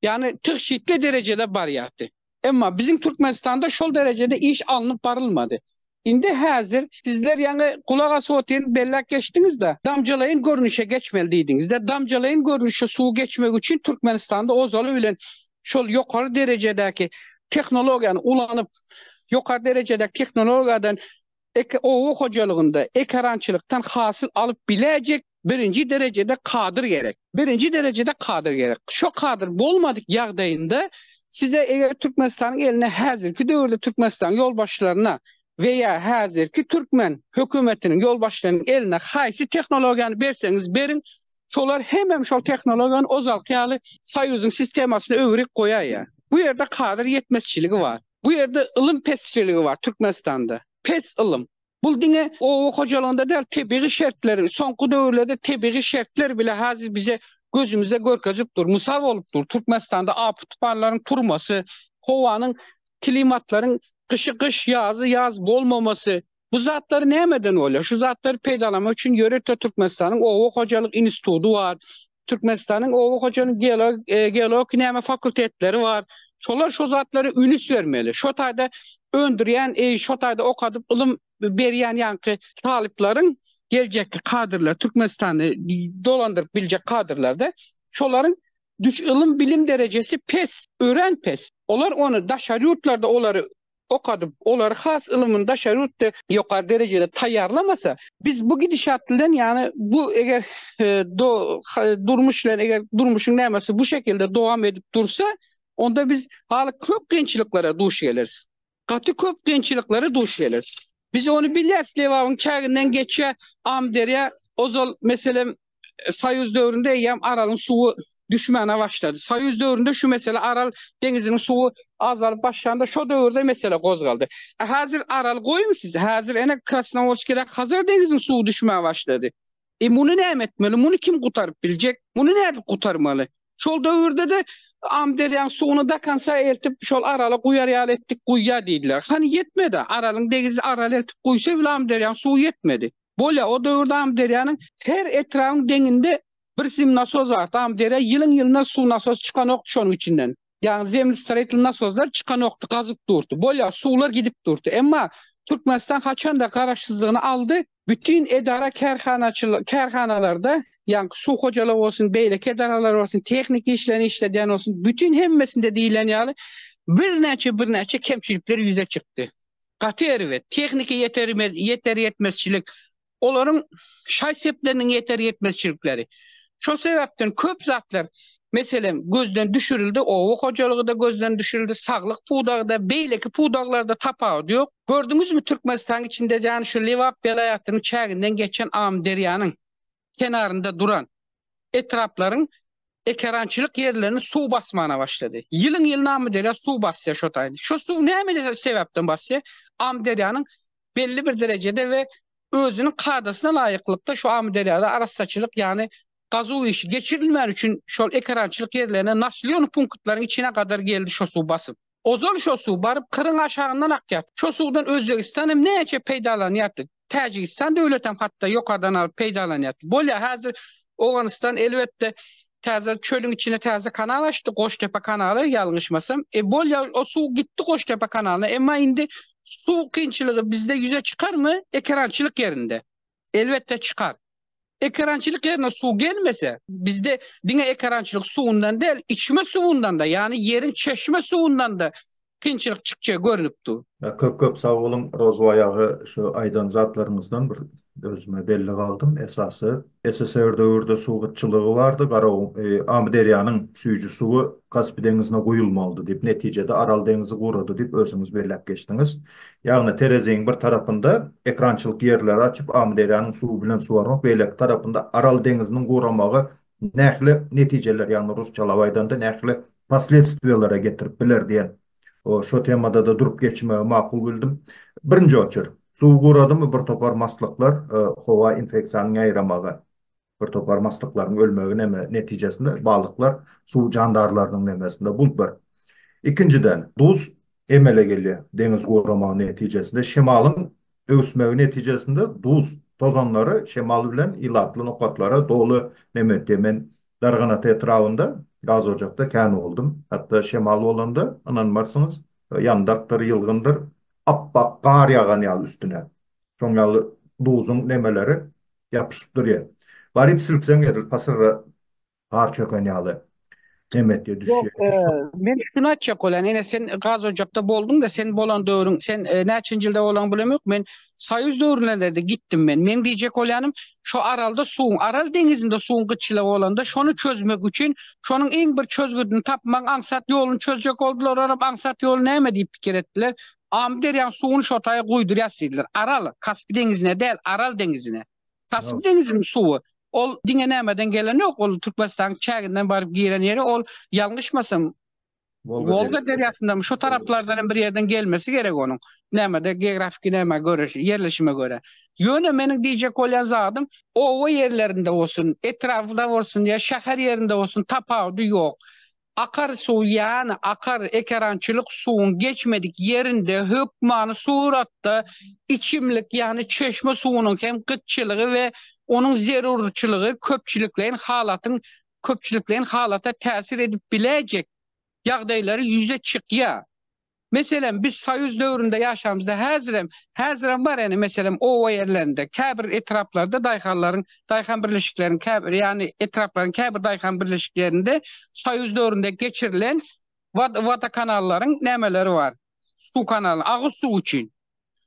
ýany tygşytly derejede barýardy. Emma biziň Türkmenistanda şol derejede iş alnyp barylmady. Indi häzir sizler ýaňy gulak asyp otyryn belläp geçdiňizde damjalaýyn görnüşe geçmeli diýdiňizde damjalaýyn görnüşe suw geçmegi üçin Türkmenistanda ozaly bilen şol ýokary derejedäki tehnologiýany ulanyp ýokary derejedäki tehnologiýadan oba hojalygynda ekerançylykdan hasyl alyp biläýjek Birinji derejede kadr gerek. Birinji derejede kadr gerek. Şo kadr bolmadyk ýagdaýynda size eger Türkmenistanyň eline häzirki döwürde Türkmenistanyň ýolbaşçylaryna we ýa häzirki türkmen hökümetiniň ýolbaşçylarynyň eline haýsy tehnologiýany berseňiz beriň, şolar hemem şol tehnologiýany ozalky ýaly soýuzyň sistemasyna öwürip goýaýýar. Bu ýerde kadr ýetmezçiligi bar. Bu ýerde ylym pesçiligi bar Türkmenistanda. Pes ylym. Bul diňe oba hojalygynda däl, tebigy şertleri, soňky döwürlerde tebigy şertler bile hazir bize gözümize görkezip dur, mysal bolup dur. Türkmenistanda api tupanlaryň turmasy, howanyň, klimatlaryň gyşy gyş, ýazy ýaz bolmamasy, bu zatlary nämeden bolýar? Şu zatlary peýdalanmak üçin ýörite Türkmenistanyň oba hojalyk institudy bar. Türkmenistanyň oba hojalyk geologik näme fakultetleri bar. Şolar şo zatlara ünüs bermeli. Şo taýda öndürýän, şo taýda okadyp ylym berýän ýaňky talyplaryň geljekki kadrlar, Türkmenistany dolandyryp biljek kadrlarda şolaryň ylym-bilim derejesi pes, örän pes. Olar ony daşary ýurtlarda olary okadyp, olary has ylymyny daşary ýurtda ýokary derejede taýýarlamasa, biz bu gidişat bilen, ýagny bu eger do durmuş bilen eger durmuşyň nämesi bu şekilde dowam edip dursa, onda biz haly köp kynçylyklara duş geleris. Gaty köp kynçylyklara duş geleris. Biz ony bilýäris, Lebabyň çäginden geçýär Amyderýa, ozal, meselem, Soýuz döwründe eýýäm Aralyň suwy düşmäne başlady. Soýuz döwründe şu mesele Aral deňiziniň suwy azalyp başlanda şo döwürde mesele gozgaldy. E häzir Aral goýuň siz, häzir ene Krasnowolskide Hazar deňiziniň suwy düşmäne başlady. E muny näme etmeli? Muny kim gutaryp biljek? Muny nädip gutarmaly? Şol döwürde-de Amyderýaň suwuny dakansa eltip şol Arala guýar ýaly etdik guýýa diýdiler. Hany ýetmedi. Aralyň degizi Aral eltip guýsa bile Amyderýaň suwy ýetmedi. Bolýar, o döwürde Amyderýanyň her etrabyň deňinde bir sim nasos bardy. Amyderýa ýylyň-ýylyna suw nasosy çykanokdy şonuň içinden. Ýagny zemlestroitl nasoslar çykanokdy, gazyp durdy. Bolýar, suwlar gidip durdy. Emma Türkmenistan haçanda garaşsyzlygyny aldy, bütin edara-kärhanaçyl, kärhanalarda, ýagny suw hojalygy bolsun, beýleki edaralar bolsun, tehniki işlerini işledýän bolsun, bütin hemmesinde diýlen ýaly birnäçe-birnäçe kemçilikler ýüze çykdy. gaty erbet, tehniki ýetermez, ýeter-ýetmezçilik, olaryň şaý-sepleriniň ýeter-ýetmezçilikleri. Şol sebäpden köp zatlar, meselem, gözden düşürildi, oba hojalygy-da gözden düşürildi, saglyk pudagy-da, beýleki pudaglarda tapawudy ýok. Gördüňizmi, Türkmenistanyň içinde, ýagny şu Lebap welaýatynyň çäginden geçen Amyderýanyň, kenarynda duran etraplaryň ekerançylyk ýerlerini suw basmana başlady. Ýylyň-ýylyna Amyderýa suw basýar şo taýda. Şo suw näme sebäpden basýar? Amyderýanyň belli bir derejede we özüniň kadasyna laýyklykda şu Amyderýada arassaçylyk, ýagny gazuw işi geçirilmän üçin şol ekerançylyk ýerlerine naslýon punktlaryň içine gadar geldi şo suw basyp. Ozal şo suw baryp Kyryň aşagyndan akýardy. Şo suwdan Özbegistan hem näçe peýdalanýardy. Täjigistan döwletem hatda ýokardan alyp peýdalanýardy. Bolýar häzir Owganystan elbetde täze çölüň içine täze kanal açdy, Goştepe kanaly ýalňyşmasam. E bolýar o suw gitdi Goştepe kanalyna. Emma indi suw kynçylygy bizde ýüze çykarmy? Ekerançylyk ýerinde. Elbetde çykar. Ekerançylyk ýerine suw gelmese, bizde diňe ekerançylyk suwundan däl, içme suwundan-da, ýagny ýeriň çeşme suwundan-da kynçylyk çykjagy görnüp dur. Köp köp sag boluň Rozwaý aga şu aýdan zatlaryňyzdan bir özüme belli galdym esasy SSR döwürde suw gytçylygy bardy Garaow Amyderýanyň süýji suwy Kaspi deňizine guýulmalydy diýip netijede Aral deňizi gurady diýip özüňiz belläp geçdiňiz Ýagny tereziň bir tarapynda ekrançylyk ýerleri açyp, Amyderýanyň suwy bilen suwarmak, beýleki tarapynda Aral deňiziniň guramagy nähili netijeler, ýagny rusçalap aýdanda nähili posledstwiýalara getirip biler diýen şo temada-da durup geçmegi makul bildim. Birinji oçer, suw guradymy bir topar maslyklar, howa infeksiýanyň ýaýramagy. Bir topar maslyklaryň ölmegi neme netijesinde balyklar suw jandarlarynyň nemesinde bul bir. Ikinjiden, duz emele gelýär. Deňiz guramagy netijesinde şemalyň öwsmegi netijesinde duz tozanlary şemal bilen ilatly nokatlara doly neme etýär. Men Darganata etrabynda gazojakda kän boldum. Hatda şemal bolanda, ynanmarsyňyz, ýandakdyr, ýylgyndyr, apbak gar ýagan ýaly üstüne. Şoň ýaly duzuň nemeleri ýapyşyp durýar. Baryp silkseň edil pasyrra gar çöken ýaly nemetge düşýär. Men şuny aýtjak bolýan, ene sen gaz ojakda bolduň-da, sen bolan döwrüň, sen näçenji ýylda bolaňy bilemok, men soýuz döwrünelerde gitdim men. Meň diýjek bolýanym, şo Aralda suwuň, Aral deňizinde suwuň gytçylygy bolanda, şony çözmek üçin, şonuň iň bir çözgüdini tapmagyň aňsat ýoluny çözjek boldular, olam aňsat ýoly näme diýip pikir etdiler, Amyderýaň suwuny şo taýa guýdurýas diýdiler. Aral, Kaspi deňizine däl, Aral deňizine. Kaspi deňiziniň suwy, ol diňe nämeden gelen ýok, ol Türkmenistanyň çäginden baryp giren ýeri, ol ýalňyşmasam, Wolga derýasyndamy, şo taraplardan hem bir ýerden gelmesi gerek onuň. Nämede, geografiki nämä görä, ýerleşime görä. Ýöne meniň diýjek bolýan zadym, oba ýerlerinde bolsun, etrapda bolsun ýa şäher ýerinde bolsun tapawudy ýok. Akar suw ýany akar ekerançylyk suwuň geçmedik ýerinde hökmany suratda içimlik ýany çeşme suwunyň hem gytçylygy we onuň zerurçylygy köpçülikleýin halatyň köpçülikleýin halata täsir edip biläýjek ýagdaýlary ýüze çykýar. Meselem, biz soýuz döwründe ýaşamyzda, häzirem, häzirem bar ene, meselem, oba ýerlerinde, käbir etraplarda daýhanlaryň, daýhan birleşikleriň käbir, ýagny etraplaryň käbir daýhan birleşiklerinde soýuz döwründe geçirilen wod, wodokanallaryň nämeleri bar, suw kanaly, agyz suw üçin.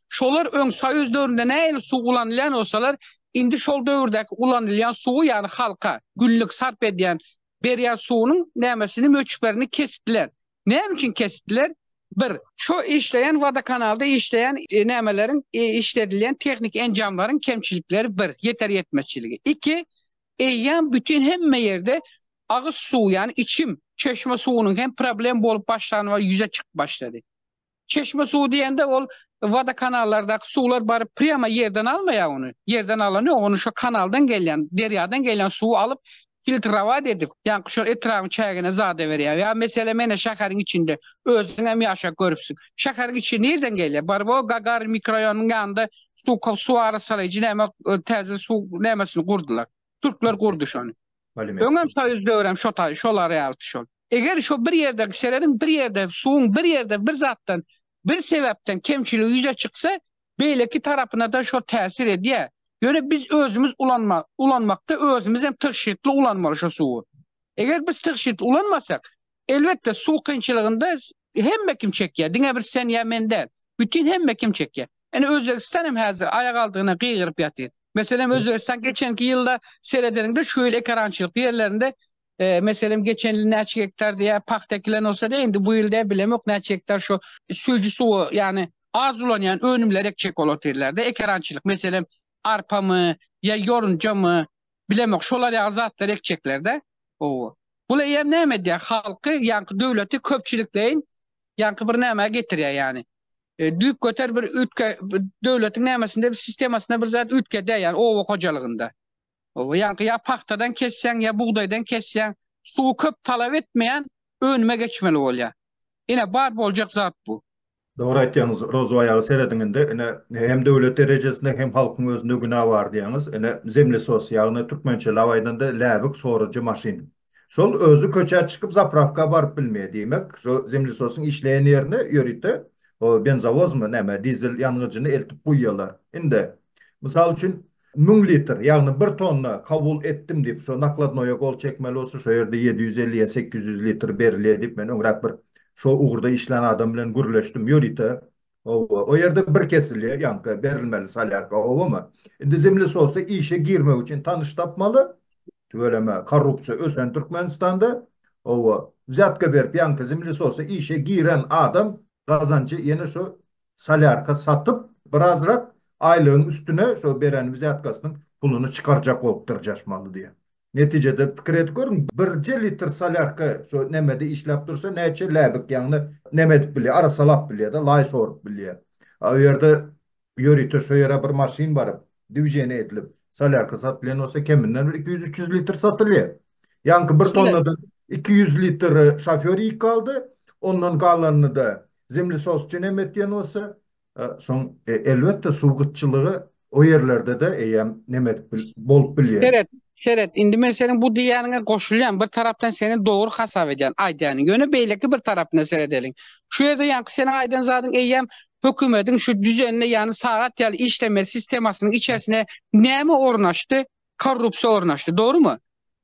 Şolar öň soýuz döwründe nähili suw ulanylýan bolsalar, indi şol döwürdäki ulanylýan suwy, ýagny halka günlük sarp edýän, berýän suwunyň nämesini, möçberini kesipdiler. Näme üçin kesdiler? Bir, şu işleýän wodokanalda işleýän nämeleriň, işledilýän tehniki enjamlaryň kemçilikleri bir, ýeter-ýetmezçiligi. Iki, eýýäm bütin hemme ýerde agyz suw, ýagny içim, çeşme suwunyň hem problem bolup başlan we ýüze çykyp başlady. Çeşme suwy diýende ol wodokanallardaky suwlar baryp prýama ýerden almaýar ony. Ýerden alany ýok, ony şo kanaldan gelýän, derýadan gelýän suwy alyp filtrowat edip, ýaňky şol etrabyň çägine zada berýär. Ýa mesele mene şäheriň içinde, özüň hem ýaşap görüpsiň. Şäheriň içi nirden gelýär? Baryp o Gagarin mikroýonynyň ýanynda suw suw arassalaýjy näme täze suw nämesini gurdylar. Türkler gurdy şony. Öňem soýuz döwrem şo taý şolar ýalydy şol. Eger şo bir ýerdäki serediň bir ýerde suwuň bir ýerde bir zatdan bir sebäpden kemçiligi ýüze çyksa beýleki tarapynada şo täsir edýä. Ýöne biz özümiz ulanma ulanmakda özümizem tygşytly ulanmaly şo suwy. Eger biz tygşytly ulanmasak elbetde suw kynçylygynda hemme kim çekýä diňe bir sen ýa men däl. Bütin hemme kim çekýä. Ine Özbegistan hem häzir aýak aldygyna gygyryp ýatyr. Meselem Özbegistan geçenki ýylda seredeniňde şu ýyl ekerançylykly ýerlerinde Meselem, geçen ýyl näçe gektar diýýär, pagta ekilen bolsa-da, indi bu ýyl däl, bilemok näçe gektar şu süýji suwy, ýagny az ulanýan önümleri ekjek bolup otyrlar-da, ekerançylyk, meselem, arpamy ýa ýorunjamy, bilemok, şolar ýaly zatlary ekjekler-dä. Hawa. Bul eýýäm näme edýär? Halky, ýaňky döwleti köpçülikleýin ýaňky bir nämä getirýär ýagny. Düýpgöter bir üýtge, döwletiň nämesinde, sistemasyna bir zat üýtgedýär ýagny oba hojalygynda. Ýaňky ýa pagtadan kesýäň, ýa bugdaýdan kesýäň. Suwy köp talap etmeýän önüme geçmeli bolýar. Ine, bar boljak zat bu. Dogry aýtýaňyz, Rozo aýaga serediň indi, ine, hem döwlet derejesinde, hem halkyň özünde günä bar diýýäňiz. Ine, zemlesos, ýagny türkmençelap aýdanda, läbik sorujy maşyn. Şol özi köçä çykyp zapravka baryp bilmeýär diýmek şo zemlesosyň işleýän ýerine ýörite o benzowozmy näme dizel ýangyjyny eltip guýýalar. Indi mysal üçin müň litr ýagny bir tonna kabul etdim diýip şo nakladnoýa gol çekmeli bolsa şo ýerde ýedi ýüz elli ýa sekiz ýüz litr berilýär diýip men öňräk bir şo ugurda işlän adam bilen gürleşdim ýörite Oba, o ýerde bir kesilýär, ýaňky berilmeli solýarka, obamy? Indi zemlesosy işe girmek üçin tanyş tapmaly. Tüweleme, korrupsiýa ösen Türkmenistanda. Oba, wzýatka berip ýaňky zemlesosy işe giren adam gazanjy ýene şu solýarka satyp birazrak aýlygyň üstüne şo beren wzýatkasynyň puluny çykarjak bolup dyrjaşmaly diýýär. Netijede pikir edip görüň birje litr solýarka şo nämede işläp dursa näçe läbik ýagny näme edip bilýär arasalap bilýärda laý sorup bilýär. A o ýerde ýörite şo ýere bir maşyn baryp dwiženiýe edilip solýarka satylýan bolsa keminden bir iki ýüz üç ýüz litr satylýar. Ýaňky bir tonnadan iki ýüz litr şofýor ýykaldy ondan galanyny-da zemlesosçy näme etýän bolsa E, soň e, elbetde suw gytçylygy o ýerlerde-de eýýäm neme edip bil- bolup bilýär. Seret, seret. Indi men seniň bu diýýäniňe goşulýan. Bir tarapdan seni dogry hasap edýän aýdýanyň. Ýöne beýleki bir tarapyna seredeliň. Şu ýerde ýaňky seniň aýdan zadyň eýýäm hökümediň şu düzenine, ýagny sagat ýaly işlemeli sistemasynyň içerisine näme ornaşdy? korrupsiýa ornaşdy, dogrumy?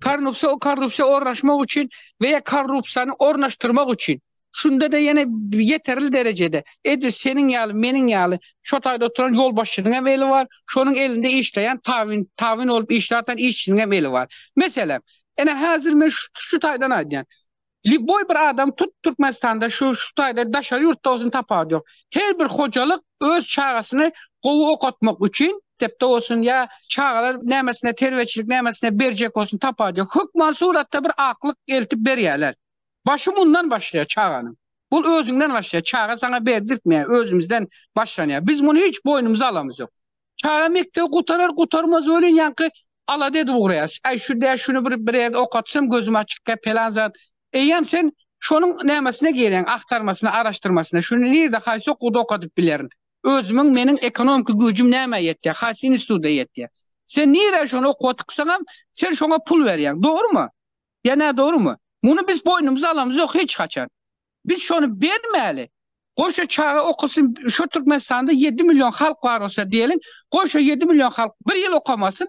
Korrupsiýa o korrupsiýa ornaşmak üçin we ýa korrupsiýany ornaşdyrmak üçin şunda-da ýene ýeterli derejede edil seniň ýaly, meniň ýaly şo taýda oturan ýolbaşçynyň hem eli bar, şonuň elinde işleýän tabyn, tabyn bolup işläp atan işçiniň hem eli bar. Meselem, ene häzir men şu taýdan aýdýan. Lýuboý bir adam tut Türkmenistanda şu şu taýda daşary ýurtda bolsun tapawudy ýok. Her bir hojalyk öz çagasyny gowy okatmak üçin mekdepde bolsun ýa çagalar nämesine terbiýeçilik nämesine berjek bolsun tapawudy ýok. Hökman suratda bir aklyk eltip berýärler. Başy mundan başlaýar çaganyň. Bul özüňden başlaýar. Çaga saňa berdirtmeýär özümizden başlanýar. Biz muny hiç boýnumyza alamyz ýok. Çaga mekdebi gutarar gutarmaz welin ýaňky alada edip ugraýar. Äý şu dä şuny bir bir ýerde okatsam gözüm açykkä pelan zat. Eýýäm sen şonuň nämesine geleň, agtarmasyna, araşdyrmasyna. Şuny nirde haýsy okuwda okadyp bilerin. Özümiň meniň ekonomiki güýjüm nämä ýetýär, haýsy institutda ýetýär. Sen nirä şony okuwa tyksaňam sen şoňa pul berýäň. Dogrymy? Ýa nädogrymy? Muny biz boýnumyza alamyz ýok hiç haçan. Biz şony bermäli. Goý şo çaga okasyn, şo Türkmenistanda ýedi million halk bar bolsa diýeliň, goý şo ýedi million halk bir ýyl okamasyn.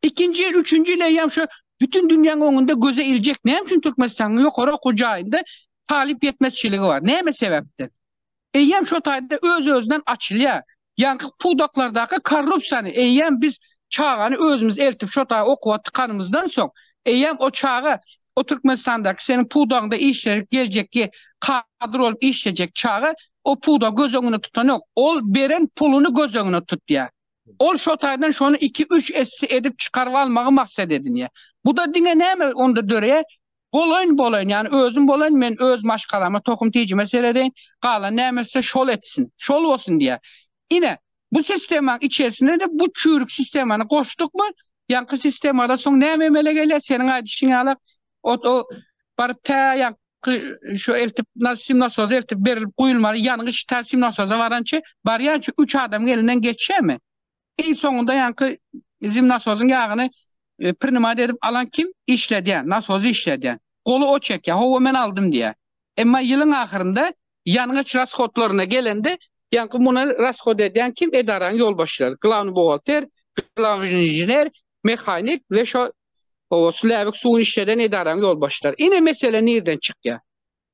Ikinji ýyl, üçünji ýyl eýýäm şo bütin dünýäň öňünde göze iljek näme üçin Türkmenistanyň ýokary okuw jaýynda talyp ýetmezçiligi bar, näme sebäpden? Eýýäm şo taýda öz-özünden açylýar. Ýaňky pudaklardaky korrupsiýany eýýäm biz çagany özümiz eltip şo taý okuwa tykanymyzdan soň, eýýäm o çaga o Türkmenistandaky seniň pudagyňda işlejek geljekki kadr bolup işlejek çaga o pudagy göz öňünde tutanok. Ol beren puluny göz öňünde tutýar. Ol şo taýdan şony iki-üç esse edip çykaryp almagy maksat edinýär. Bu-da diňe näme onda döreýär? Bolaýyn, bolaýyn, ýagny özüm bolaýyn, men öz maşgalama, tohum-tijime seredeýin, galan näme etse şol etsin, şol bolsun diýýär. Ine, bu sistemaň içerisine-de bu çüýrük sistemany goşdukmy, ýaňky sistemada soň näme emele gelýär? Seniň aýdyşyň ýaly, ot o baryp tä ýaňky şu eltip sim nasozy eltip berilip guýulmaly ýangyç tä sim nasoza barança, barýança üç adam elinden geçýärmi? Iň soňunda ýaňky zim nasozyň ýagyny prinymat edip alan kim? Işledýän, nasozy işledýän. Goly o çekýär, Hawa, men aldym diýýär. Emma ýylyň ahyrynda ýangyç rashodlaryna gelende, ýaňky muny rashod edýän kim? Edaranyň ýolbaşçylary, glawnyý buhgalter, glawnyý inžener, mehanik we şo, hawa, şu läbik suwuny işleden edaranyň ýolbaşçylary. Ine, mesele nirden çykýar?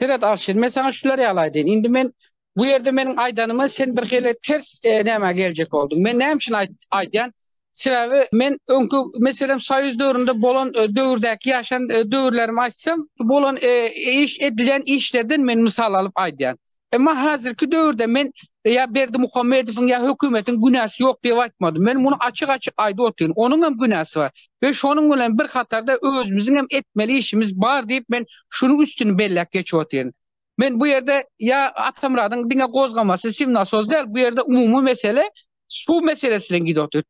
Seret Alşir, men saňa şular ýaly aýdaýyn. Indi men bu ýerde meniň aýdanymy sen birhili ters nämä geljek bolduň. Men näme üçin aýdýan? Sebäbi men öňki, meselem, soýuz döwründe bolan döwürdäki ýaşan döwürlerimi aýtsam, bolan iş, edilýän işlerden men mysal alyp aýdýan. Emma häzirki döwürde men ýa Berdimuhamedowyň ýa hökümetiň günäsi ýok diýip aýtmadym. Men muny açyk-açyk aýdyp otyryn. Onuň hem günäsi bar we şonuň bilen bir hatarda özümiziň hem etmeli işimiz bar diýip men şunuň üstüni belläp geçip otyryn. Men bu ýerde ýa Atamyradyň diňe gozgamasy simnasos däl, bu ýerde umumy mesele suw meselesi bilen gidip otyr.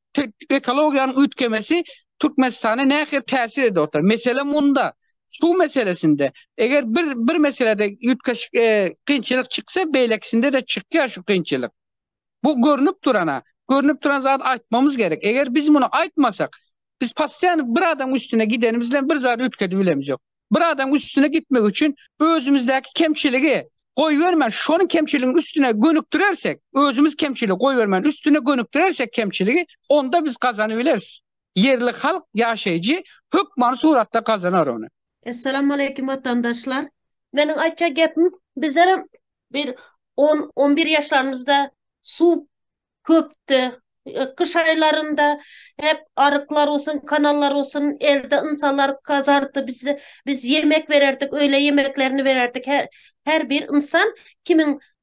Ekologiýanyň üýtgemesi Türkmenistana nähili täsir edip otyr? Mesele munda. suw meselesinde eger bir bir meselede üýtgeşik e, kynçylyk çyksa beýlekisinde-de çykýar şu kynçylyk. Bu görnüp durana, görnüp duran zat aýtmamyz gerek. Eger biz muny aýtmasak, biz passiýan bir adam üstüne gidenimiz bilen bir zat üýtgedip bilemz ýok. Bir adam üstüne gitmek üçin özümizdäki kemçiligi goýbermän, şonuň kemçiligiň üstüne gönükdirersek, özümiz kemçiligi goýbermän, üstüne gönükdirersek kemçiligi, onda biz gazanyp bileris. Ýerli halk ýaşaýjy hökmany suratda gazanar ony. Essalamualeýkum watandaşlar. Meniň aýtjak gepim bizlerem bir on on bir ýaşlarymyzda suw köpdi. Gyş aýlarynda hep aryklar bolsun kanallar bolsun elde ynsanlar gazardy biz biz ýemek bererdik öýle ýemeklerini bererdik her bir ynsan kimin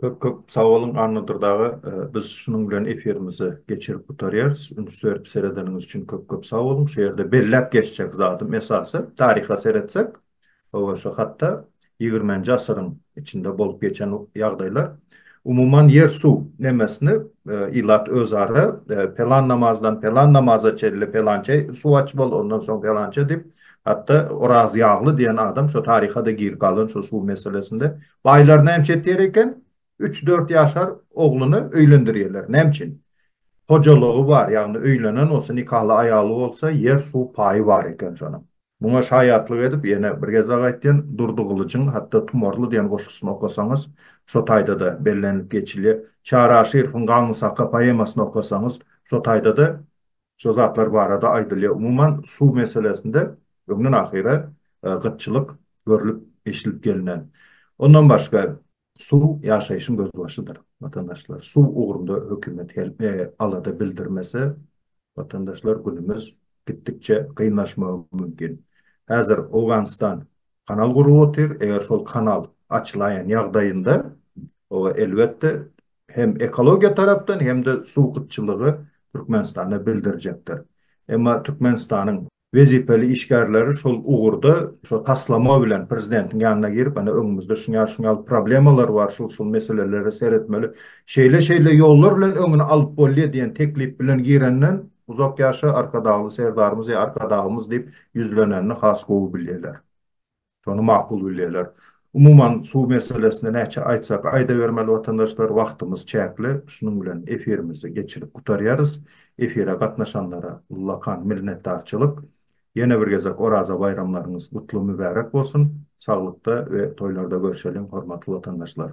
Köp köp sag boluň Annadur daga. Biz şunuň bilen efirimizi geçirip gutarýarys. Üns berip seredeniňiz üçin köp köp sag boluň. Şu ýerde belläp geçjek zadym esasy taryha seretsek, hawa şu hatda ýigirmenji asyryň içinde bolup geçen ýagdaýlar. Umuman ýer suw nemesini ilat özara pelan namazdan pelan namaza çenli pelançe suw aç bol ondan soň pelançe diýip hatda Oraz ýagly diýen adam şu taryha-da girip galan şu suw meselesinde Baýlar näme etýär eken? Üç-dört ýaşar ogluny öýlendirýärler. Näme üçin? Hojalygy bar, ýagny öýlenen bolsa, nikaly aýaly bolsa, ýer-suw paýy bar eken şonuň. Muňa şaýatlyk edip, ýene bir gezek aýtýan, Durdy Gylyjyň hatda Tumarly diýen goşgusyny okasaňyz, şo taýda-da bellenilip geçilýär. Çary Aşyrowyň Gaňňy Saka poemasyny okasaňyz, şo taýda-da Şo zatlar barada aýdylýar. Umuman, suw meselesinde öňden ahyra gytçylyk görlüp, eşidilip gelinen. Ondan başga, suw ýaşaýşyň gözbaşydyr, watandaşlar. Suw ugrunda hökümet alada bildirmese, watandaşlar, günümiz gitdikçe kynlaşmagy mümkin. Häzir Owganystan kanal gurup otyr. Eger şol kanal açylaýan ýagdaýynda, oba, elbetde, hem ekologiýa tarapdan hem-de suw gytçylygy Türkmenistanda bildirjekdir. Emma Türkmenistanyň wezipeli işgärleri şol ugurda şo taslama bilen prezidentiň ýanyna girip, ine öňümizde şuny ýaly, şuny ýaly problemalar bar, şul-şul meselelere seretmeli, şeýle-şeýle ýollar bilen öňüni alyp bolýar diýen teklip bilen girenden uzak ýaşa Arkadagly Serdarymyz ýa Arkadagymyz diýip ýüzlenenini has gowy bilýärler. Şony makul bilýärler. Umuman suw meselesinde näçe aýtsak aýdabermeli watandaşlar wagtymyz çäkli, şunuň bilen efirimizi geçirip gutarýarys. Efire gatnaşanlara ullakan minnetdarçylyk. Ýene bir gezek Oraza baýramlaryňyz gutly mübärek bolsun. Saglykda we toýlarda görşeliň hormatly watandaşlar.